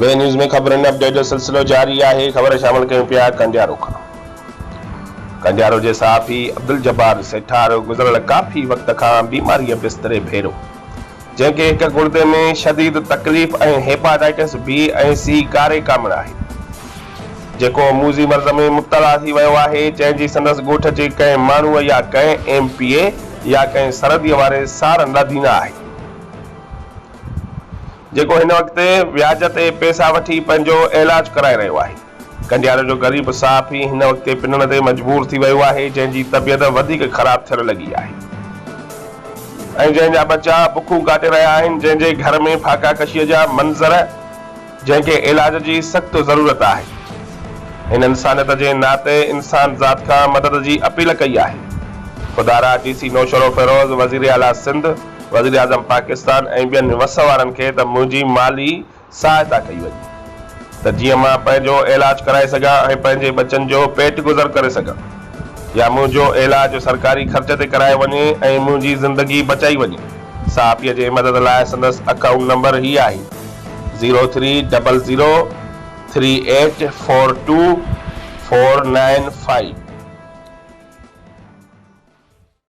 بي news ۾ خبرن update جو سلسلو جاري آهي، خبر شامل ڪيون پيا ڪنڊيارو کان. ڪنڊيارو جي صحافي عبدالجبار سيٺار گذريل ڪافي وقت کان بيماريء بستري ڀيرو، جنهن کي هڪ گڙدي ۾ شديد تڪليف ۽ هيپاٽائيٽس بي ۽ سي ڪاري ڪامڻ آهي، جيڪو موذي مرض ۾ مبتلا ٿي ويو آهي، جنهن جي سندس ڳوٺ جي ڪنهن ماڻهوء يا ڪنهن ايم پي اي يا ڪنهن سرحديء واري سارن لاڌي نه آهي. جيڪو هن وقت وياج تي پئسا وٺي پنهنجو ايلاج ڪرائي رهيو آهي. ڪنڊيارو جو غريب صحافي هن وقت پنڻ تي مجبور ٿي ويو آهي جنهن جي طبيعت وڌيڪ خراب ٿيڻ لڳي آهي ۽ جنهن جا ٻچا بکون ڪاٽي رهيا آهن جنهن جي گهر ۾ ڦاڪا ڪشي جا منظر جنهن کي ايلاج جي سخت ضرورت آهي هن انسانيت جي ناتي انسان ذات کان مدد جي اپيل ڪئي آهي خدارا ڊي سي نوشهروفيروز وزير اعليٰ سنڌ وزيراعظم پاڪستان ۽ ٻين وس وارن کي ته منهنجي مالي سهائتا ڪئي وڃي ته جيئن مان پنهنجو عيلاج ڪرائي سگهان ۽ پنهنجي ٻچن جو پيٽ گذر ڪري سگهان يا منهنجو عيلاج سرڪاري خرچ تي ڪرايو وڃي ۽ منهنجي زندگي بچائي وڃي صحافيء جي مدد لاء سندس اڪائونٽ نمبر هي آهي zero three double zero three eight four two four nine five.